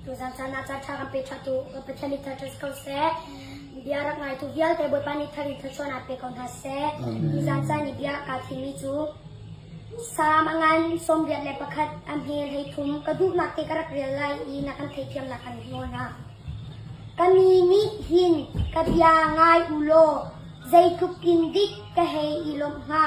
Tuzaan caan ah caanṭha kan pe ṭhatu Pathian nih thar ṭhat ko seh. Bia rak ngaitu vialte Bawipa nih thar in thluachuah ah pe ko hna seh. Nizaan caan i bia kaa thimmi cu Salm a ngan sawmriat le pakhat a hmel hei thum ka duhnak te ka rak rel lai i na kan theithiamnak kan hmuh hna. Ka mi nih hin ka bia ngai u law zeitluk in dik ka hei i lawmh hnga.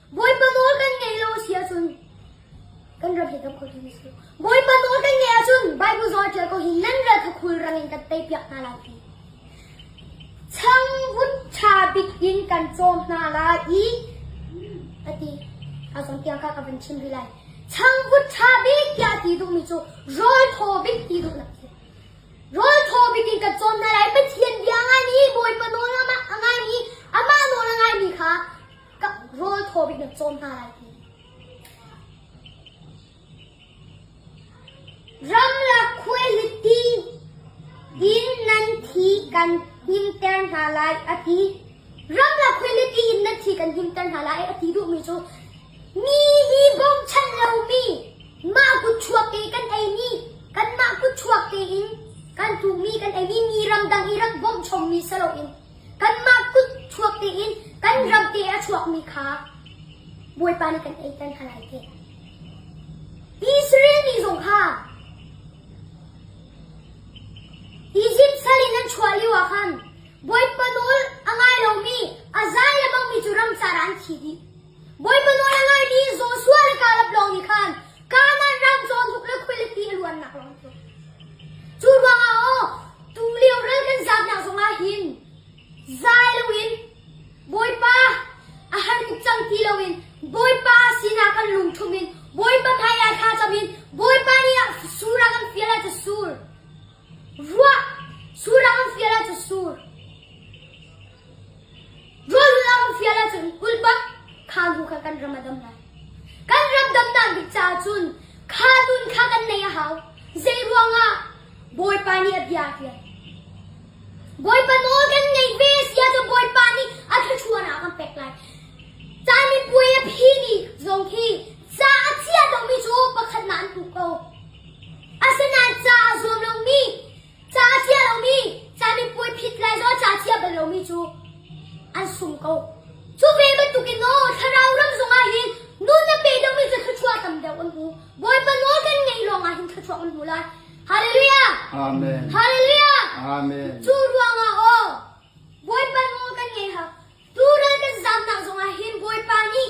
Bawipa nawl kan ngaih lo a si ahcun kan ram hi tam kho ding a si. Bawipa nawl kan ngaih ahcun Baibal zawl ṭial ko hin nan ral kha khulrang in kan tei piak hna lai ti. Changvun ṭha bik in kan cawm hna lai i a ti. A cawnpiak kha ka van chim rih lai. Changvut ṭha bik tiah ti duhmi cu rawl thaw bik ti duhnak a si. Rawl thaw bik in kan cawm hna lai. Pathian bia a ngaimi, Bawipa nawl a ngaimi, amah nawl a ngaimi kha Rawl thaw bik na cawn hna lai ti. Ramlak khuaihlitti in nan thi kan himter hna lai a ti. Ramlak khuaihlitti in nan thi kan himter hna lai a ti duhmi cu mi hi bawmchanh lomi mah kutchuak te kan eimi kanmah kutchuak tein kan tuhmi kan eimi mi ramdang i ram bawmh chommi si loin Kanmah kut chuak dingin kan ram te a chuakmi kha Bawipa nih kan ei peng hna lai teh. Israel mi zong kha Izipt sal in an chuah lioah khan Bawipa nawl a ngai lomi a za le bangmi cu ram caah an thi dih. Bawipa nawl a ngaimi Joshua le Kaleb lawng nih khan Kanaan ram cawnhnuk le khualipi a luannak lawng cu cu ruangah aw tulio ral kan zatnak zongah hin zai loin Bawipa a har tuk cang ti loin Bawipa sinah kan lungṭhum in Bawipa hmaiah thla cam in Bawipa nih a sur a kan fial ah ca sur. Vuah! Sullam an fial ahcun sur, rawlhulh an fial ahcun ulpak kha nu kha kan ram a dam lai. Kan ram damnak bik caah cun kha dun kha kan neih a hau. Zeiruangah? Bawipa nih a bia a ṭial. Bawipa nawl kan ngeih ve a si ahcun Bawipa nih a thluachuahnak a kan pek lai. Caan mipuai a phi ni zong khi ca a chia lomi cu pakhatnak an hmu ko. Asinain ca a zuam lomi, ca a chia lomi, ca mipuai phit lai lo, ca thiam bal lomi cu an sung ko. Cu ve bantukin aw thlarau ram zongah hin nun na pe deuhmi cu thluachuah tam deuh an hmu. Bawipa nawl kan ngaih lawngah hin thluachuah an hmu lai. Halleluja! Amen. Halleluja! Amen. Cu ruangah aw Bawipa nawl kan ngei hak. Tu ral kan zamnak zongah hin Bawipa nih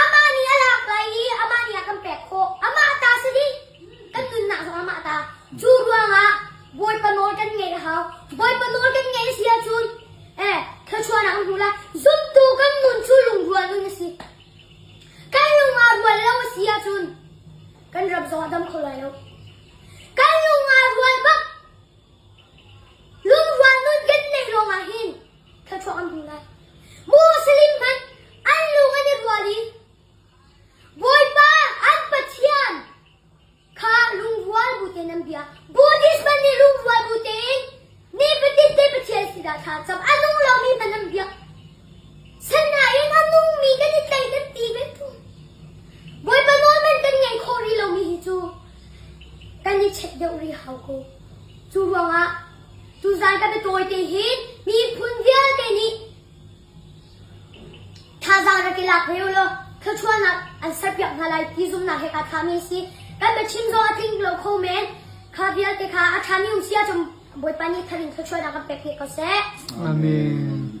Amah nih a lak lai i amah nih a kan pek khawh. Amah ta si dih, kan nunnak zong amah ta. Cu ruangah Bawipa nawl kan ngaih a hau. Bawipa nawl kan ngaih a si ahcun, eh, thluachuahnak an hmu lai. Zumtu kan nun cu lungrual nun a si. Kan lung aa rual lo a si ahcun, kan rap zong a dam kho lai lo. Kan lung aa rual bak. Lungrual nun kan neih lawngah hin Thluachuak an hmu lai. Muslim hmanh an lung an i rual i Bawipa an Pathian kha lungrual bu tein an bia. Buddhist hmanh nih lungrual bu tein nifatin te Pathian sin ah thla an cam. A nung lomi hmanh an biak. Sanain a nungmi kan i tei kan ti ve fawn. Bawipa nawl hmanh kan ngei khawh rih lomi hi cu kan i check deuh rih hau ko. Cu ruangah Tuzaan kan i tawite hi miphun vialte nih thazaang rak i lak ve ulaw thluachuahnak an serpiak hna lai ti zumnak he kaa thami a si. Kan biachim zong a tling lo kho men. Kha vialte kha a ṭhami um sia cun Bawipa nih thar in thluachuahnak kan pek hi ko seh. Amen.